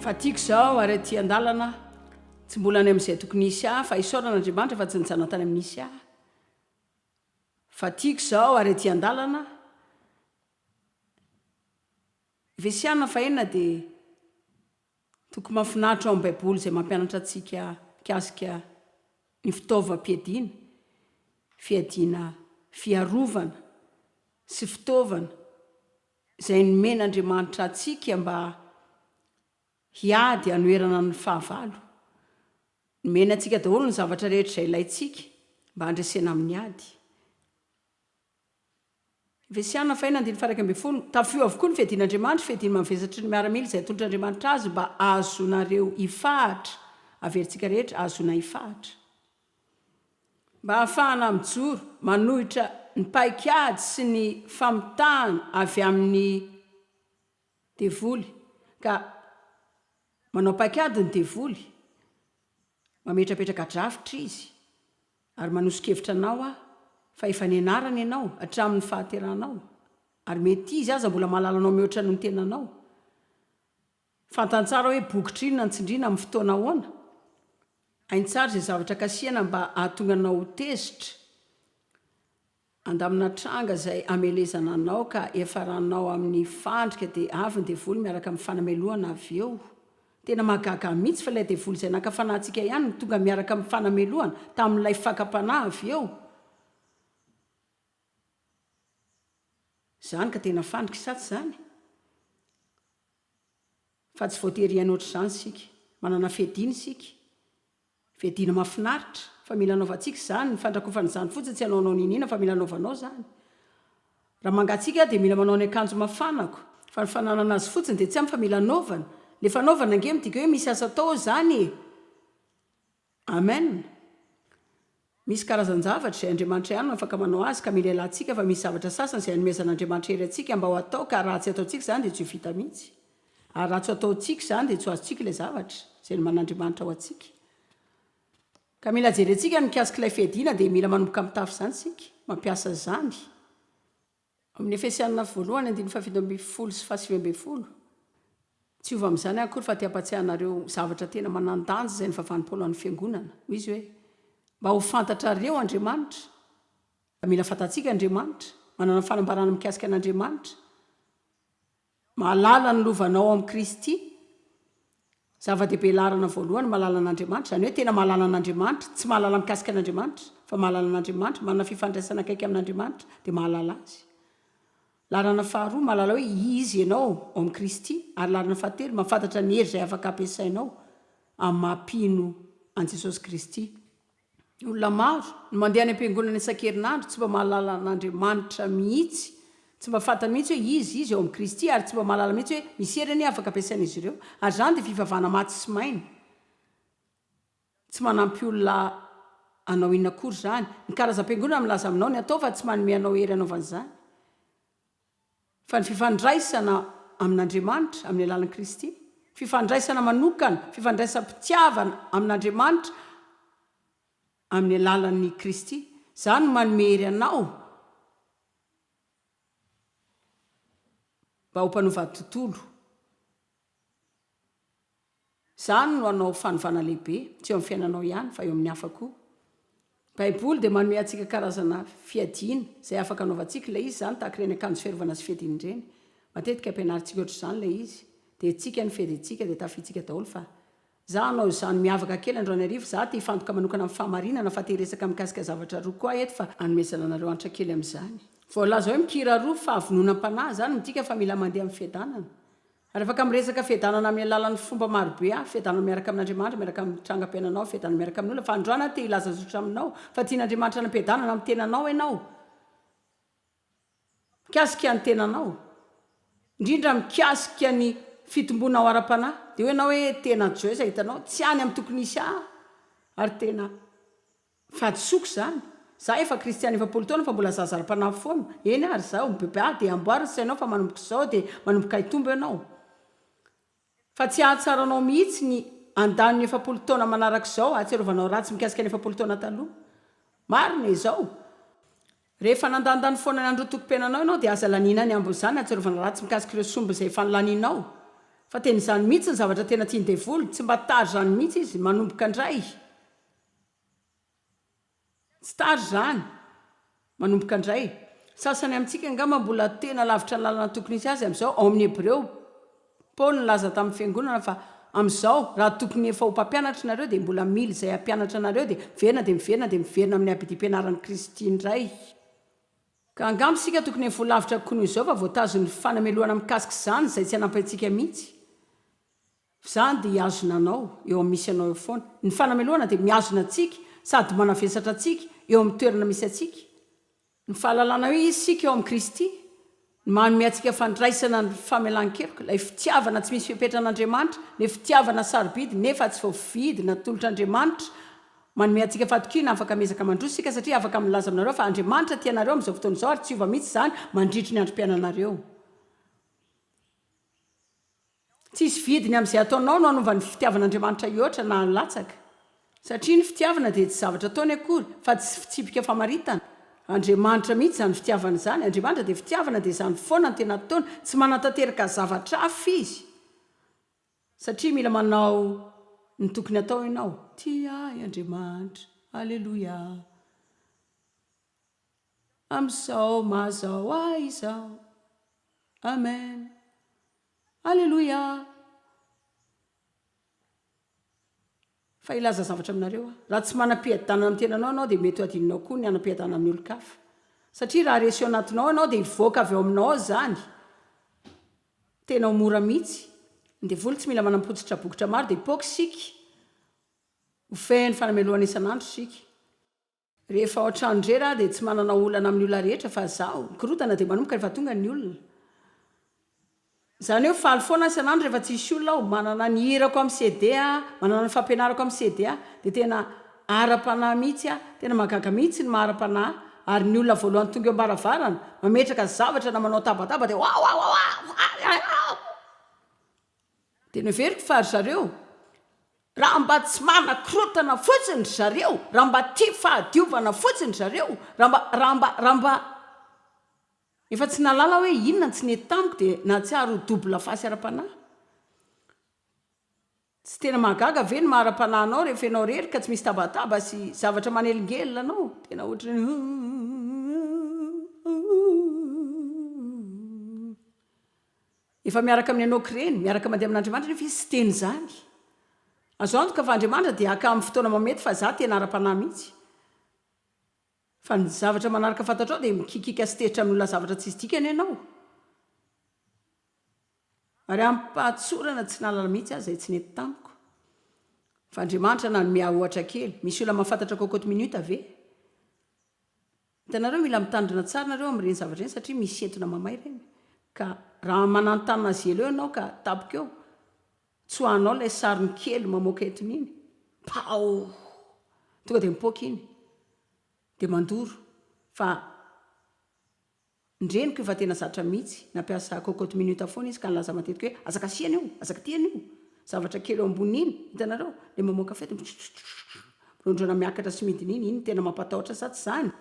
fa tiako zao ary aty an-dalana tsy mbola any amin'izay tokony hisy ahy fa isaorana andriamanitra fa tsy nijanona tany amin'ny hisy ahy fa tiako zao ary aty an-dalana Vesiana fa inona dia toko mahafinaritra ao amin'ny Baiboly izay mampianatra antsika mikasika ny fitaovam-piadiana, fiadiana fiarovana sy fitaovana izay nomen'Andriamanitra antsika mba hiady hanoherana ny fahavalo. Nomena antsika daholo ny zavatra rehetra izay ilaintsika mba handresena amin'ny ady. Vesiana, faina, andininy faha iraika ambin'ny folo, Tafio avokoa ny fiadian'Andriamanitra, fiadiany mavesatry ny miaramila izay atolotr'Andriamanitra azy mba hahazoanareo hifahatra, averintsika rehetra, hahazoana hifahatra. Mba hahafahana mijoro, manohitra ny paikady sy ny famitahana avy amin'ny devoly, ka manao paikady ny devoly, mametrapetraka drafitra izy, Ary manoso-kevitra anao aho fa efa nianarana ianao hatramin'ny fahateranao, ary mety izy aza mbola mahalala anao mihoatra noho ny tenanao. Fantany tsara hoe bokitra inona no tsindriana amin'ny fotoana ahoana. Hainy tsara izay zavatra kasihana mba hahatonga anao ho tezitra. Andamina tranga izay hamelezana anao ka hiafaranao amin'ny fandrika dia avy ny devoly miaraka amin'ny fanamelohana avy eo. Tena mahagaga mihitsy fa ilay devoly izay naka fanahintsika ihany no tonga miaraka amin'ny fanamelohana tamin'ilay fakam-panahy avy eo. Izany ka tena fandrika sa tsy izany? Fa tsy voatery hiaina ohatr'izany isika. Manana fiadiana isika. Fiadiana mahafinaritra. Fa mila anaovantsika izany. Ny fandrakofan'izany fotsiny tsy hanaonao niniana fa mila anaovanao izany. Raha mangatsiaka aho dia mila manao ny akanjo mafanako. Fa ny fananana azy fotsiny dia tsy ampy fa mila anaovana. Ilay fanaovana ange midika hoe misy asa atao ao izany e! Amen! Misy karazan-javatra izay Andriamanitra ihany no afaka manao azy ka mila ialatsika fa misy zavatra sasany izay anomezan'Andriamanitra hery antsika mba ho ataoka ary raha tsy ataontsika izany dia tsy ho vita mihitsy. Ary raha tsy ho ataontsika izany dia tsy ho azontsika ilay zavatra izay noman'Andriamanitra ho antsika. Ka mila jerentsika ny mikasika ilay fiadiana dia mila manomboka mitafy izany isika, mampiasa izany. Amin'ny Efesiana voalohany andininy fahafito ambin'ny folo sy fahasivy ambin'ny folo, Tsy hiova amin'izany aho akory fa te hampatsiahy anareo zavatra tena manan-danja izay nivavahan'i Paoly ho an'ny fiangonana. Hoy izy hoe, Mba ho fantatrareo Andriamanitra, dia mila fantatsika Andriamanitra, manana fanambarana mikasika an'Andriamanitra, Mahalala ny lovanao amin'i Kristy, zava-dehibe laharana voalohany, mahalala an'Andriamanitra, izany hoe tena mahalala an'Andriamanitra, tsy mahalala mikasika an'Andriamanitra, fa mahalala an'Andriamanitra, manana fifandraisana akaiky amin'Andriamanitra, dia mahalala Azy. Laharana faharoa, mahalala hoe Izy ianao ao amin'i Kristy, ary laharana fahatelo, mahafantatra ny hery izay afaka ampiasainao amin'ny maha-mpino an'i Jesosy Kristy. Ny olona maro no mandeha any am-piangonana isan-kerinandro tsy mba mahalala an'Andriamanitra mihitsy, tsy mba fantany mihitsy hoe Izy, Izy ao amin'i Kristy, ary tsy mba mahalala mihitsy hoe misy heriny afaka ampiasain'izy ireo. Ary izany dia fivavahana maty sy maina. Tsy manampy olona hanao inona akory izany. Ny karazam-piangonana milaza aminao ny hatao fa tsy manome anao hery hanaovana izany. fa ny fifandraisana amin'Andriamanitra amin'ny alalan'i Kristy, fifandraisana manokana, fifandraisam-pitiavana amin'Andriamanitra amin'ny alalan'i Kristy. Izaho no manome hery anao mba ho mpanova tontolo. Izany no hanao fanovana lehibe, tsy eo amin'ny fiainanao ihany, fa eo amin'ny hafa koa. Ny Baiboly dia manome antsika karazana fiadiana izay afaka anaovantsika ilay izy izany, tahaka ireny akanjo fiarovana sy fiadiana ireny. Matetika ampianarintsika ohatr'izany ilay izy, dia hetsika ny fiadiantsika, dia tafidintsika daholo fa, Izaho hanao izany miavaka kely androany hariva, izaho te hifantoka manokana amin'ny fahamarinana, fa te hiresaka mikasika zavatra roa koa aho eto, fa hanomezana anareo antra kely amin'izany. Voalaza hoe mikira roa, fahavononam-panahy, izany midika fa mila mandeha amin'ny fiadanana. Ary afaka miresaka fiadanana amin'ny alalan'ny fomba maro be hafa, fiadanana miaraka amin'Andriamanitra, miaraka amin'ny trangam-piainanao, fiadanana miaraka amin'ny olona, fa androany aho te hilaza zotra aminao fa tian'Andriamanitra anam-piadanana amin'ny tenanao ianao. Mikasika ny tenanao, indrindra mikasika ny fitombonao ara-panahy, dia hoy ianao hoe, tena Joyce hitanao, tsy any amin'ny tokony hisy ahy ary tena. Fahadisoako izany. Za efa kristiana efapolo taona fa mbola zaza ara-panahy foana. Eny ary izaho mibebeha dia amboary ny sainao fa manomboka izao dia manomboka hitombo ianao. Fa tsy hahatsara anao mihitsy ny handany ny efapolo taona manaraka izao hahatsiarovanao ratsy mikasika ny efapolo taona taloha. Marina izao. Rehefa nandanindany foana ny androntokom-piainanao ianao dia aza laniana ny hambo izany hahatsiarovana ratsy mikasika ireo somba izay efa nolanianao. Fa tena izany mihitsy ny zavatra tena tian'ny devoly. Tsy mba tara izany mihitsy izy. Manomboka indray. Tsy tara izany. Manomboka indray. Sasany amintsika angamba mbola tena lavitra ny lalana tokony hisy azy amin'izao. Ao amin'ny Hebreo, Paoly nilaza tamin'ny fiangonana fa, Amin'izao, raha tokony efa ho mpampianatra ianareo, dia mbola mila izay hampianatra anareo, dia miverina, dia miverina, dia miverina amin'ny abidim-pianaran'i Kristy indray. Ka angamba isika tokony efa ho lavitra kokoa noho izao, fa voatazo ny fanamelohana mikasika izany izay tsy hanampy antsika mihitsy. F'izany dia hihazona anao eo amin'ny misy anao eo foana. Ny fanamelohana dia mihazona antsika sady manavesatra antsika eo amin'ny toerana misy antsika. Ny fahalalana hoe iza isika eo amin'i Kristy no manome antsika fandraisana ny famelan-keloka, ilay fitiavana tsy misy fepetra an'Andriamanitra, ilay fitiavana sarobidy nefa tsy voavidy natolotr'Andriamanitra. Manome antsika fahatokiana afaka miezaka mandroso isika satria afaka milaza aminareo fa Andriamanitra tia anareo amin'izao fotoana izao ary tsy hiova mihitsy izany mandritry ny androm-piainanareo. Tsisy vidiny amin'izay ataonao no hanova ny fitiavan'Andriamanitra hihoatra na hilatsaka. Satria ny fitiavana dia tsy zavatra ataony akory fa tsy fitsipika famaritana. Andriamanitra mihitsy izany fitiavana izany. Andriamanitra dia fitiavana dia izany foana no tena ataony. Tsy manantanteraka zavatra hafa Izy satria mila manao ny tokony atao ianao. Tia ahy Andriamanitra. Aleloia. Amin'izao mazao ahy izao. Amen. Aleloia! Fa hilaza zavatra aminareo aho, raha tsy manam-piadanana amin'ny tenanao ianao dia mety ho adinonao koa ny hanam-piadanana amin'ny olon-kafa. Satria raha resy ao anatinao ianao dia hivoaka avy ao aminao ao izany. Tena ho mora mihitsy. Ny devoly tsy mila manam-pototra bokotra maro dia hipoaka isika. Ho fehin'ny fanamelohana isan'andro isika. Rehefa ao an-trano irery aho dia tsy manana olana amin'ny olona rehetra fa izaho. Ny korontana dia manomboka rehefa tonga ny olona. Izany hoe faly foana aho isan'andro rehefa tsy hisy olona aho. Manana ny hirako amin'ny CD aho, manana ny fampianarako amin'ny CD aho. Dia tena ara-panahy mihitsy aho. Tena mahagaga mihitsy ny maha ara-panahy. Ary ny olona voalohany tonga eo am-baravarana, mametraka zavatra na manao tabataba dia Wawawawa! Faly aho! Dia noheveriko fa ry zareo, raha mba tsy manakorontana fotsiny ry zareo, raha mba tia fahadiovana fotsiny ry zareo, raha mba, raha mba, raha mba. Efa tsy nahalala aho hoe inona no tsy nety tamiko dia nahatsiaro ho double face ara-panahy. Tsy tena mahagaga ve ny maha ara-panahy anao rehefa ianao irery ka tsy misy tabataba sy zavatra manelingelina anao? Tena ohatran'ny hoe huuu Efa miaraka amin'ny Henôka ireny, miaraka mandeha amin'Andriamanitra nefa izy tsy teny izany. Azo antoka fa Andriamanitra dia haka amin'ny fotoana mamety fa izaho tena ara-panahy mihitsy. Fa ny zavatra manaraka fantatrao dia mikikika sy tezitra amin'ny olona zavatra tsisy dikany ianao. Ary amim-pahatsorana tsy nahalala mihitsy aho izay tsy nety tamiko. Fa Andriamanitra nanome ahy ohatra kely. Misy olona mahafantatra cocotte minute ve? Hitanareo mila mitandrina tsara nareo am reny zavatra reny satria misy entona mamay reny ka raha mananotana azy elo eo enao ka tapoka eo tsoahanao ilay sarony kely mamoaka entona iny paoo tonga dia mipoaka iny dia mandoro fa Ny reniko efa tena zatra mihitsy, nampiasa cocotte minute foana izy ka nilaza matetika hoe aza kasiana io, aza kitihana io, zavatra kely eo amboniny iny, hitanareo, ilay mamoaka feo dia mitrotro, mirondrana miakatra sy midina iny, iny no tena mampatahotra sa tsy izany?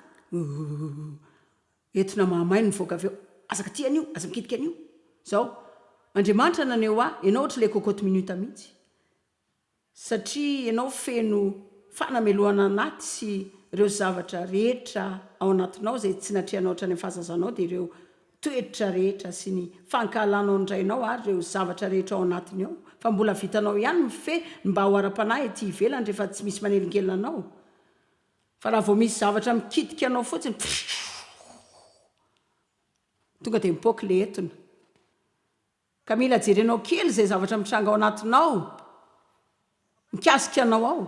Entona mahamay no mivoaka avy eo, aza kitihana io, aza mikitika an'io, izao, Andriamanitra naneho ahy, ianao ohatran'ilay cocotte minute mihitsy, satria ianao feno fanamelohana anaty sy ireo zavatra rehetra ao anatinao izay tsy natrehanao hatrany amin'ny fahazazanao dia ireo toetra rehetra sy ny fankahalanao ny rainao ary ireo zavatra rehetra ao anatiny ao fa mbola vitanao ihany mifehy ny mba ho ara-panahy ety ivelany rehefa tsy misy manelingelina anao fa raha vao misy zavatra mikitika anao fotsiny tonga dia mipoaka ilay etona Ka mila jerenao kely izay zavatra mitranga ao anatinao mikasika anao ao.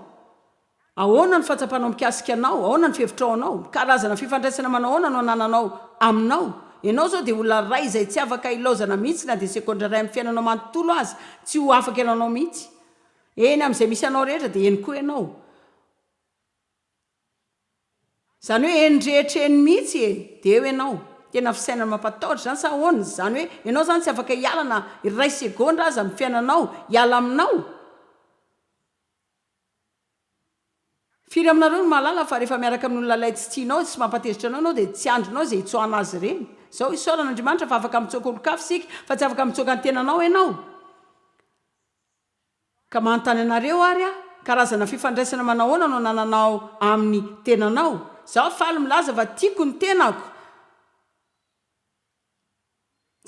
Ahoana ny fahatsapanao mikasika anao? Ahoana ny fihevitrao anao? Karazana fifandraisana manao ahoana no anananao aminao? Ianao izao dia olona iray izay tsy afaka hilaozana mihitsy na dia segondra iray amin'ny fiainanao manontolo aza, tsy ho afaka iananao mihitsy. Eny amin'izay misy anao rehetra dia eny koa ianao. Zany hoe eny rehetra eny mihitsy e! de eo ianao. Tena fisainana mampatahotra izany sa ahoana? Izany hoe ianao izany tsy afaka hiala na iray segondra aza amin'ny fiainanao hiala aminao? Firy aminareo no mahalala fa rehefa miaraka amin'ny olona ilay tsy tianao sy mampatezitra anao ianao dia tsy andrinao izay hitsoahana azy ireny? Izao isaorana Andriamanitra fa afaka mitsoaka olon-kafa isika fa tsy afaka mitsoaka ny tenanao ianao. Ka manontany anareo ary aho, karazana fifandraisana manahoana no anananao amin'ny tenanao? Izaho faly milaza fa tiako ny tenako.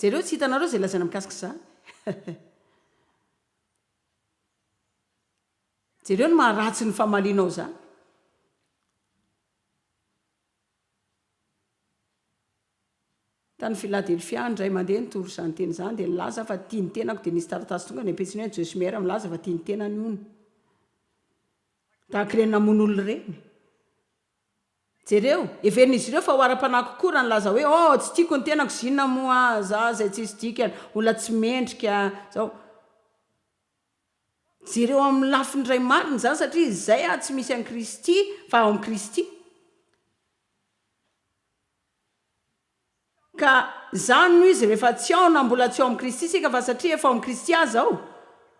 Jereo tsy hitanareo izay lazaina mikasika izany. Jereo ny maha ratsy ny famalianao izany. Tany Filadelfia indray mandeha nitory izany teny izany dia nilaza aho fa tia ny tenako dia nisy taratasy tonga any am-pitsiny hoe Joyce Meyer milaza fa tia ny tenany hono. Tahaka ireny namono olona ireny. Jereo, heverin'izy ireo fa ho ara-panahy kokoa raha nilaza hoe Oh, tsy tiako ny tenako, 'zinona moa aho, izaho izay tsisy dikany, olona tsy mendrika, izao. Jereo amin'ny lafiny iray marina izany satria izay ary tsy misy an'i Kristy fa ao amin'i Kristy. Ka izany no izy rehefa tsy ao na mbola tsy ao amin'i Kristy isika fa satria efa ao amin'i Kristy aza aho,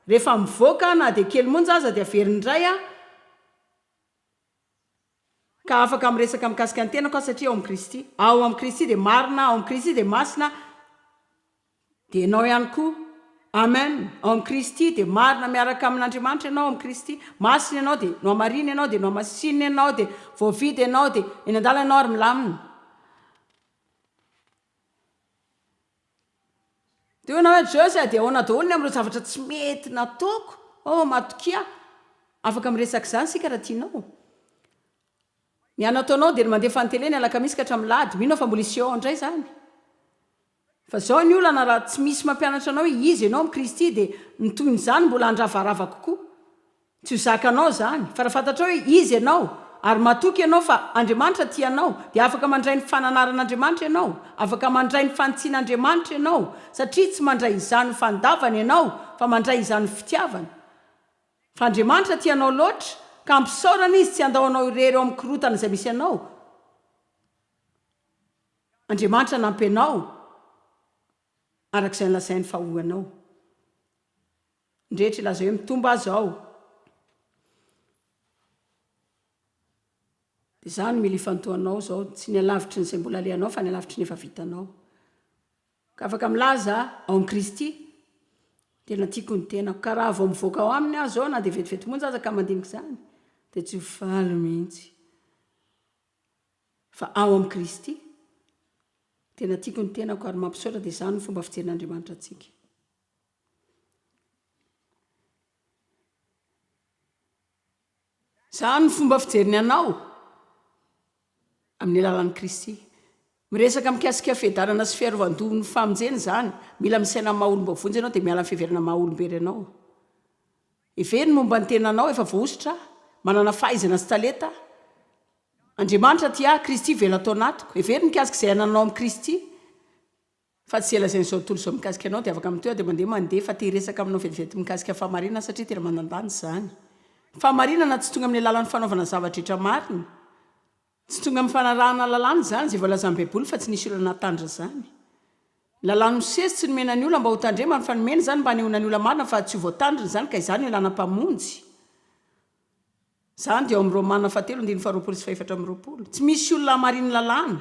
rehefa mivoaka aho na dia kely monja aza dia averiny indray aho, ka afaka miresaka mikasika ny tenako aho satria ao amin'i Kristy, aho amin'i Kristy dia marina, ao amin'i Kristy dia masina, dia ianao ihany koa. Amen! Ao amin'i Kristy dia marina miaraka amin'Andriamanitra ianao, ao amin'i Kristy. Masina ianao dia nohamarina ianao, dia nohamasinina ianao, dia voavidy ianao, dia eny an-dalana ianao ary milamina. Dia hoy ianao, Joyce, dia ahoana daholo ny amin'ireo zavatra tsy mety nataoko? Oh, matokia aho. Afaka miresaka izany isika raha tianao. Ny anao ataonao dia ny mandefa ny tele ny alakamisy ka hatramin'ny lahady. Mino aho fa mbola hisy eo indray izany. Fa izao ny olana, raha tsy misy mampianatra anao hoe iza ianao amin'i Kristy, dia ny tohin'izany mbola handravarava kokoa. Tsy ho zakanao izany, fa raha fantatrao hoe iza ianao, ary matoky ianao fa Andriamanitra tia anao, dia afaka mandray ny fananaran'Andriamanitra ianao, afaka mandray ny fanitsian'Andriamanitra ianao, satria tsy mandray izany ho fandavana ianao, fa mandray izany ho fitiavana. Fa Andriamanitra tia anao loatra, ka ampisaorany Izy tsy handao anao irery ao amin'ny korotana izay misy anao. Andriamanitra hanampy anao, araka izay nolazainy fa ho anao. Ndreetra ilaza hoe mitombo aza ao de za no mila ifantohanao zao tsy ny alavitry ny zay mbola alehanao fa ny alavitry ny efa vitanao ka afaka milaza ao amin'i Kristy tena tiako ny tenako ka raha vao mivoaka ao aminy aho zao na de vetivety monja aza ka mandinika izany de tsy ho faly mihitsy fa ao amin'i Kristy tena tiako ny tenako ary mampisaotra de zany ny fomba fijerin'Andriamanitra antsika Izany no fomba fijeriny anao amin'ny alalan'i Kristy. Miresaka mikasika fiadanana sy fiarovan-doha ny famonjena izany. Mila misaina amin'ny maha-olom-bao vonjy ianao dia miala amin'ny fiheverana amin'ny maha-olom-be renao. Hevero ny momba ny tenanao, efa voahosotra aho, manana fahaizana sy talenta aho. Andriamanitra tia ahy, Kristy velona ato anatiko. Hevero ny mikasika izay anananao amin'i Kristy. Fa tsy ela izay ny zao tontolo izao mikasika anao dia afaka mitohy ary dia mandeha mandeha fa te hiresaka aminao vetivety mikasika fahamarinana aho satria tena manandanja izany. Ny fahamarinana tsy tonga amin'ny alalan'ny fanaovana zava-drehetra marina. Tsy tonga amin'ny fanarahana lalàna izany izay voalazan'ny Baiboly fa tsy nisy olona nahatandrina izany. Ny lalàn'i Mosesy tsy nomena ny olona mba hotandremany fa nomena izany mba hanehoana ny olona marina fa tsy ho voatandrina izany ka izany no ilàna mpamonjy. Izany dia ao amin'ny Romana fahatelo andininy faharoapolo sy fahefatra amby roapolo. Tsy misy olona hamarinin'ny lalàna.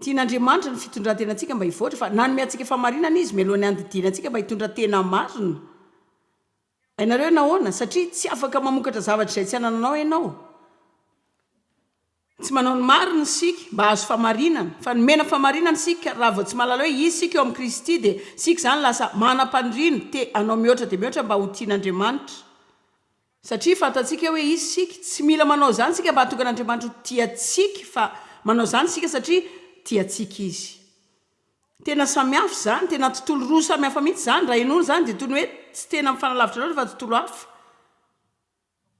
Tian'Andriamanitra ny fitondran-tenantsika mba hivoatra, fa nanome antsika fahamarinana Izy mialoha ny handidiany antsika mba hitondra tena marina. Hainareo nahoana? Satria tsy afaka mamokatra zavatra izay tsy anananao ianao. Tsy manao ny marina isika mba hahazo fahamarinana, fa nomena fahamarinana isika raha vao tsy mahalala hoe iza isika eo amin'i Kristy, dia isika izany lasa manam-paniriana, te hanao mihoatra dia mihoatra mba ho tian'Andriamanitra. Satria fantatsika hoe izy isika. Tsy mila manao izany isika mba hahatonga an'Andriamanitra ho tia antsika fa manao izany isika satria tia antsika izy. Tena samihafa izany, tena tontolo roa samihafa mihitsy izany, raha henoina izany dia toy ny hoe tsy tena mifanalavitra loatra fa tontolo hafa.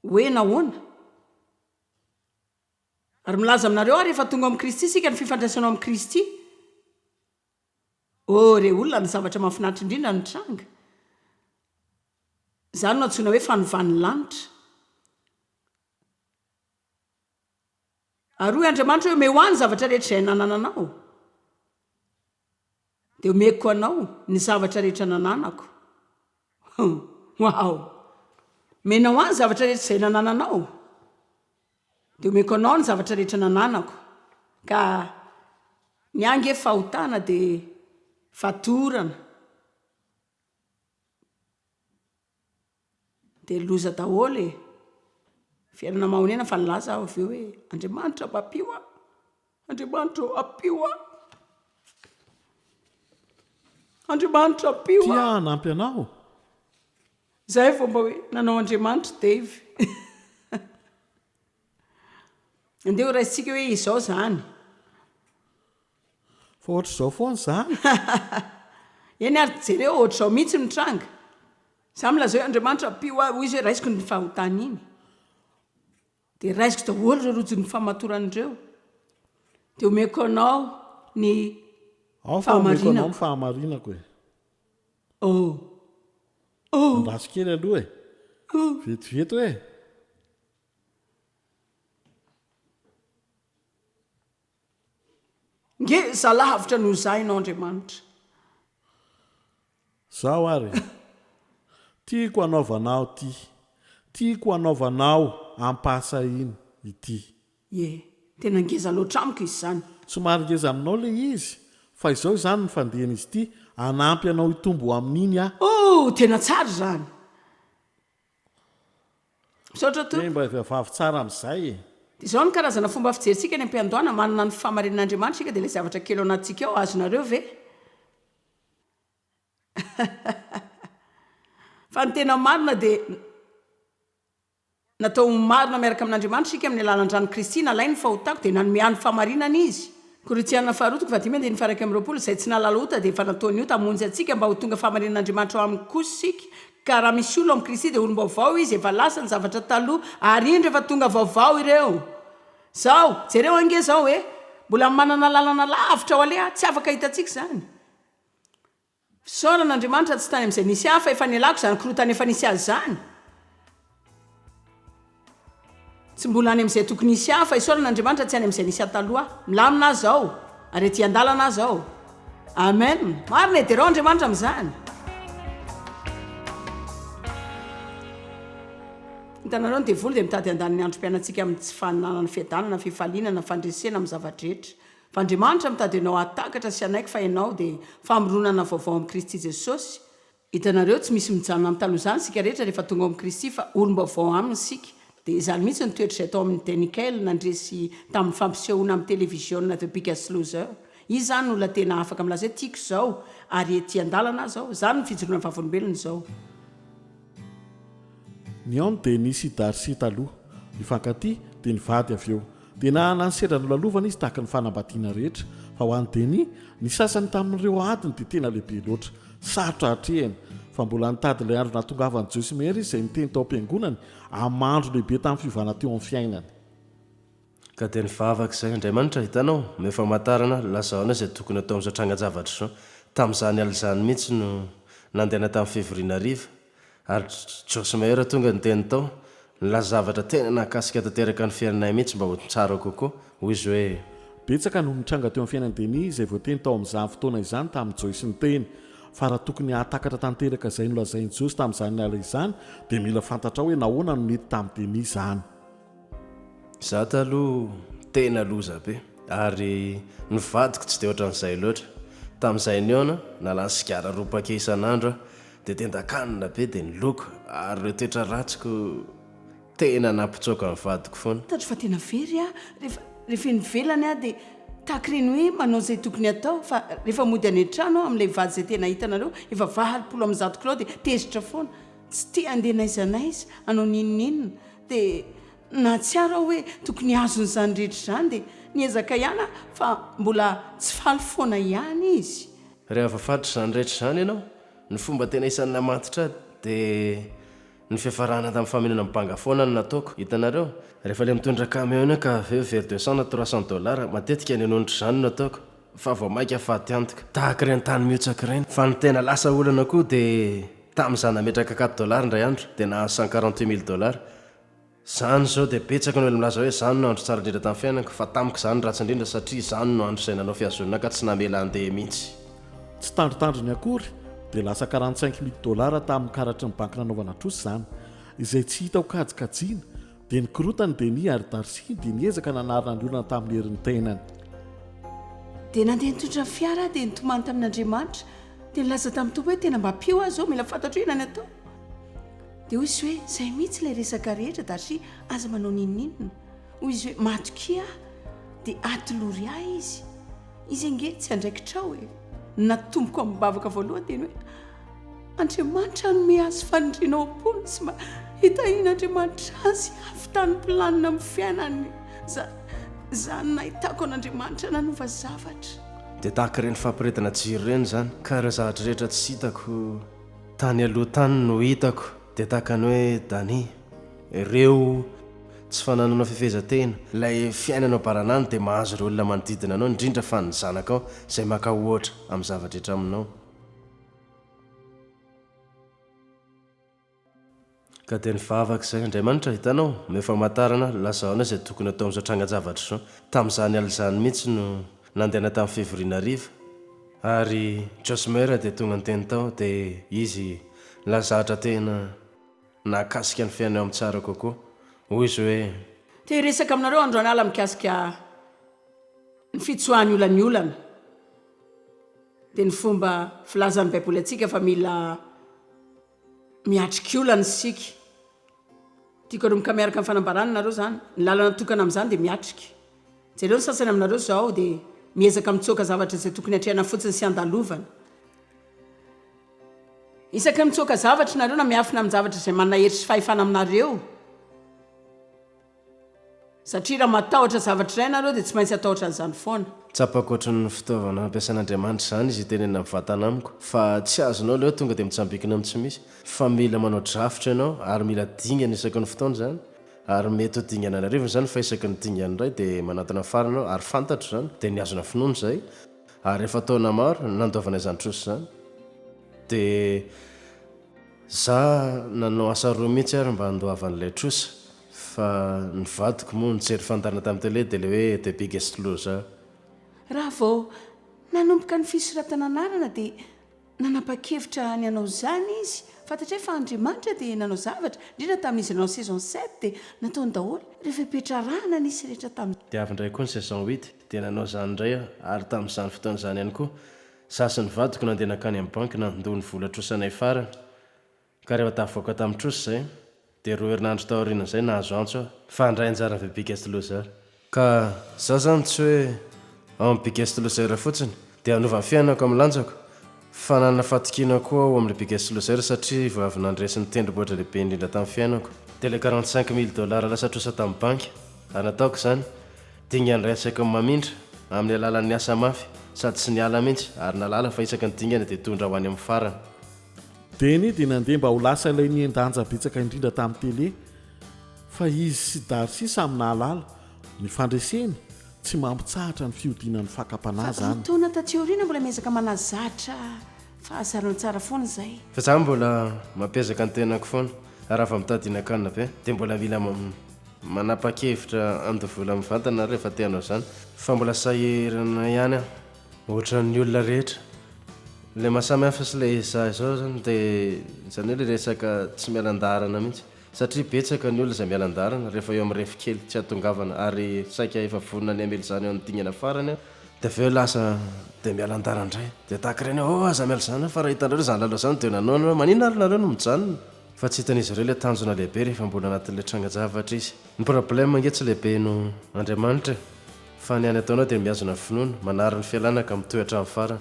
Hoe nahoana? Ary milaza aminareo aho rehefa tonga ao amin'i Kristy isika ny fifandraisanao amin'i Kristy. Oh re olona ny zavatra mahafinaritra indrindra nitranga, izany no antsoina hoe fanovan'ny lanitra. Ary hoy Andriamanitra hoe omeo ahy ny zavatra rehetra izay nanananao dia omeko anao ny zavatra rehetra nananako. Waouh! Omenao ahy ny zavatra rehetra izay nanananao. Dia omeko anao ny zavatra rehetra nananako, ka ny ahy ange fahotana dia fatorana, dia loza daholo e! Miverina mahonena fa nilaza aho avy eo hoe, Andriamanitra mampio aho. Andriamanitra ô, ampio ahy. Andriamanitra ampio ahy. Tia hanampy anao. Izay vao mba hoe nanao Andriamanitra Dave. Andeha ho raisintsika hoe izao izany. Fa ohatr'izao foana izany. Eny ary jereo, ohatr'izao mihitsy no tranga. Izaho milazao hoe Andriamanitra ampio ahy, hoy izy hoe raisiko iny fahotana iny. Dia raisiko daholo ireo rojon'ny famatorana ireo, dia omeko anao ny Aho fa omeko anao ny fahamarinako e. Oh! Oh! Andraso kely aloha e. Oh! Vetivety hoe. Ngeza lavitra noho izay ianao Andriamanitra. Zaho ary e! Tiako hanaovanao ity, tiako hanaovanao ampahasahiana ity. Ie, tena ngeza loatra amiko izy izany. Somary ngeza aminao ilay izy, fa izao izany ny fandehan'izy ity, hanampy anao hitombo ho amin'iny aho. Oh! Tena tsara izany. Misaotra Tompo. Dia mba vehivavy tsara amin'izay e. Dia izao ny karazana fomba fijerintsika any am-piandohana, manana ny fahamarinan'Andriamanitra isika dia ilay zavatra kely ao anatintsika ao azonareo ve? Fa ny tena marina dia natao ho marina miaraka amin'Andriamanitra isika amin'ny alalan'ny ran'i Kristy nalainy ny fahotako dia nanome ahy ny fahamarinana Izy. Korintiana faharoa toko fahadimy andininy faha iraika amby roapolo, Izay tsy nahalala ota dia efa nataony ota hamonjy antsika mba ho tonga fahamarinan'Andriamanitra ao aminy kosa isika Ka raha misy olona ao amin'i Kristy dia olom-baovao izy, efa lasa ny zavatra taloha, ary indro efa tonga vaovao ireo. Izao, jereo ange izao hoe mbola manana lalana lavitra ho aleha, tsy afaka hitantsika izany. Fisaorana Andriamanitra tsy tany amin'izay nisy hafa efa nialako izany korontana efa nisy azy izany. Tsy mbola any amin'izay tokony hisy ahy, fa isaorana Andriamanitra tsy any amin'izay nisy ahy taloha. Milamina aho izao, ary ety an-dalana aho izao. Amen! Marina e, derao Andriamanitra amin'izany. Hitanareo, ny devoly dia mitady handany ny androm-piainantsika amin'ny tsy fananana fiadanana, fifaliana na fandresena amin'ny zava-drehetra. Fa Andriamanitra mitady anao hahatakatra sy hanaiky fa ianao dia famoronana vaovao amin'i Kristy Jesosy, Hitanareo tsy misy mijanona amin'ny taloha izany isika rehetra rehefa tonga ao amin'i Kristy fa olom-baovao aminy isika. Dia izany mihitsy ny toetra izay tao amin'i Denikel nandresy tamin'ny fampisehoana amin'ny televiziona The Biggest Loser. Izy izany no olona tena afaka milaza hoe tiako izao ary ety an-dalana aho izao. Izany no fijoroana vavolombelona izao. Ny aon dia nisy i Darcy taloha. Nifankatia, dia nivady avy eo. Dia nanana ny sendra nolalovana izy tahaka ny fanambadiana rehetra. Fa ho an'i Denny, ny sasany tamin'ireo adiny dia tena lehibe loatra. Sarotra hatrehina. Fa mbola nitady ilay andro nahatongavan'i Joyce Meyer izy izay niteny tao am-piangonany, amin'ny mahandro lehibe tamin'ny fiovana teo amin'ny fiainany. Ka dia nivavaka izahay, Andriamanitra, hitanao, omeo famantarana, lazao anay izay tokony hatao amin'izao tranga-javatra izao. Tamin'izany alina izany mihitsy no nandehana tamin'ny fivoriana hariva, ary Josh Meyer tonga niteny tao, nilaza zavatra tena nahakasika tanteraka ny fiainanay mihitsy mba ho tsara kokoa. Hoy izy hoe. Betsaka no nitranga teo amin'ny fiainan'i Denny izay voateny tao amin'izany fotoana izany tamin'i Joyce niteny fa raha tokony hahatakatra tanteraka izay nolazain'i Josh tamin'izany alina izany, dia mila fantatrao hoe nahoana no nety tamin'i Denny izany. Za taloha tena loza be ary ny vadiko tsy dia ohatran'izay loatra. Tamin'izay nihaona, nalany sigara roa paquet isan'andro aho, dia tendan-kanina be dia ny loko ary ireo toetra ratsiko tena nampitsoaka ny vadiko foana. Hitako fa tena very aho rehefa rehefa eny ivelany aho dia tahaka ireny hoe manao izay tokony atao fa rehefa mody any an-trano aho amin'ilay vady izay tena hitanareo efa valopolo amby zato kilao dia tezitra foana, tsy te handeha n'aiza n'aiza hanao n'inon'inona. Dia nahatsiaro aho hoe tokony azony izany rehetra izany dia niezaka ihany aho fa mbola tsy faly foana ihany izy. Rehefa fatr'izany rehetra izany ianao, ny fomba tena isan'ny namantitra ahy dia ny fiafarana tamin'ny famenonana banga foana no nataoko. Hitanareo? Rehefa ilay mitondra camion iny ka avy eo very deux cents na trois cents dollars, matetika ny anonitra izany no ataoko. fa vao maika faty antoka tahaka ireny tany mihotsaka ireny fa ny tena lasa olana koa dia tamin'izaho nametraka quatre dollars indray andro dia nahazo cent quarante huit mille dollars izany izao dia betsaka ny olona milaza hoe izany no andro tsara indrindra tamin'ny fiainako fa tamiko izany ratsy indrindra satria izany no andro izay nanao fihazonana ka tsy namela handeha mihitsy. Tsy tandrintandriny akory dia lasa quarante cinq mille dollars tamin'ny karatry ny banky nanaovana trosa izany izay tsy hitako kajikajiana Dia nikorotana i Deni ary Darcy dia niezaka nanarina ny olona tamin'ny herin'ny tenany. Dia nandeha nitondra ny fiara aho dia nitomany tamin'Andriamanitra dia nilaza tamin'ny Tompo hoe tena mba mpio aho izao, mila fantatro inona ny atao. Dia hoy izy hoe izay mihitsy ilay resaka rehetra Darcy, aza manao n'inon'inona. Hoy izy hoe matokia aho dia atolory ahy izy. Izy ange tsy andraikitrao e. Ny natomboko amim-bavaka voalohany dia ny hoe Andriamanitra hanome azy faniriana ao am-pony sy mba hitahian'Andriamanitra azy havitan'ny planina amin'ny fiainany. Za, za no nahitako an'Andriamanitra nanova zavatra. Dia tahaka ireny fampiredana jiro ireny izany ka ireo zavatra rehetra tsy hitako tany aloha tany no hitako dia tahaka ny hoe Dani. Ireo tsy fananana fifehezan-tena, ilay fiainana ao baranany dia mahazo ireo olona manodidina anao, indrindra fa ny zanakao, izay maka ohatra amin'ny zava-drehetra aminao. Ka dia ny vavaka izay, Andriamanitra, hitanao, omeo famantarana, lazao anay izay tokony hatao amin'izao trangan-javatra izao. Tamin'izany alina izany mihitsy no nandehana tamin'ny fivoriana hariva, ary Josmer dia tonga niteny tao, dia izy nilazadra tena. Nahakasika ny fihaino ahy tsara kokoa. Hoy izy hoe. Te hiresaka aminareo andro an'ala mikasika ny fitsoahan'ny olan'ny olana, dia ny fomba filazan'ny Baiboly antsika fa mila miatrika olana isika. Tiako hanomboka miaraka ny fanambarana anareo izany. Ny lalana tokana amin'izany dia miatrika. Jereo ny sasany aminareo izao dia miezaka mitsoaka zavatra izay tokony hatrehana fotsiny sy handalovana. Isaky ny mitsoaka zavatra ianareo na miafina amin-javatra izay manana hery sy fahefana aminareo, satria raha matahotra zavatra iray ianareo dia tsy maintsy hatahotra an'izany foana. Tsapako ohatry ny fitaovana ampiasan'Andriamanitra izany izy hiteny amin'ny vatana amiko, fa tsy azonao ilay hoe tonga dia mitsambikina amin'ny tsy misy, fa mila manao drafitra ianao, ary mila dingana isaky ny fotoana izany, ary mety ho dingana an'arivony izany, fa isaky ny dingana indray dia manantona farany aho, ary fantatro izany, dia mihazona finoana izay. Ary efa taona maro no nandoavana izany trosa izany, dia za nanao asa roa mihitsy ary mba handoava an'ilay trosa, fa ny vadiko moa nijery fandàna tamin'ny télé dia ilay hoe The Biggest Loser. Raha vao nanomboka ny fisoratana anarana dia Nanapa-kevitra ny hanao izany izy. Fantatray fa Andriamanitra dia nanao zavatra, indrindra tamin'izy nanao saison sept dia nataony daholo ireo fepetra arahana nisy rehetra tamin'izany. Dia avy indray koa ny saison huit dia nanao izany indray aho ary tamin'izany fotoana izany ihany koa, izaho sy ny vadiko nandeha nankany amin'ny banky nandoa ny vola trosanay farany. Ka rehefa tafavoaka tamin'ny trosa izay, dia roa herinandro tao aorianan'izay nahazo antso aho. Fa handray anjara ny The Biggest Loser. Ka izaho izany tsy hoe ao amin'ny Biggest Loser fotsiny dia hanova ny fiainako amin'ny lanjako, fa nanana fatokiana koa aho ho amin'ilay Biggest Loser satria vao avy nandresy ny tendrombohitra lehibe indrindra tamin'ny fiainako. Dia ilay quarante cinq mille dollars lasa trosa tamin'ny banky, ary nataoko izany, dingany iray isaky ny mamindra, amin'ny alalan'ny asa mafy, sady tsy niala mihitsy, ary nahalala fa isaky ny dingana dia hitondra ho any amin'ny farany. Denny dia nandeha mba ho lasa ilay nihen-danja betsaka indrindra tamin'ny tele, fa izy sy Darcy samy nahalala, ny fandreseny, tsy mampitsahatra ny fiodiana ny fakam-panahy Fa roa izany. taona taty aoriana mbola miezaka manazatra fahazaran-tsara foana izahay. Fa izaho mbola mampiezaka ny tenako foana, ary raha vao mitady hihinan-kanina be, dia mbola mila manapa-kevitra handoa vola mivantana rehefa te-hanao izany, fa mbola sahirana ihany aho. Ohatran'ny olona rehetra. Ilay maha samy hafa sy ilay izaho izao izany dia izany hoe ilay resaka tsy miala an-daharana mihitsy. Satria betsaka ny olona izay miala an-daharana rehefa eo amin'ny ref kely tsy ahatongavana ary saika efa vonona ny hamely izany eo amin'ny dingana farany aho dia avy eo lasa dia miala an-daharana indray. Dia tahaka ireny hoe oh aza miala izany fa raha hitanareo izany lalao izany dia nanohana hoe maninona ary nareo no mijanona? Fa tsy hitan'izy ireo ilay tanjona lehibe rehefa mbola anatin'ilay trangan-javatra izy. Ny problème ange tsy lehibe noho Andriamanitra e. Fa ny any ataonao dia mihazona ny finoana, manary ny fialana ka mitohy hatramin'ny farany.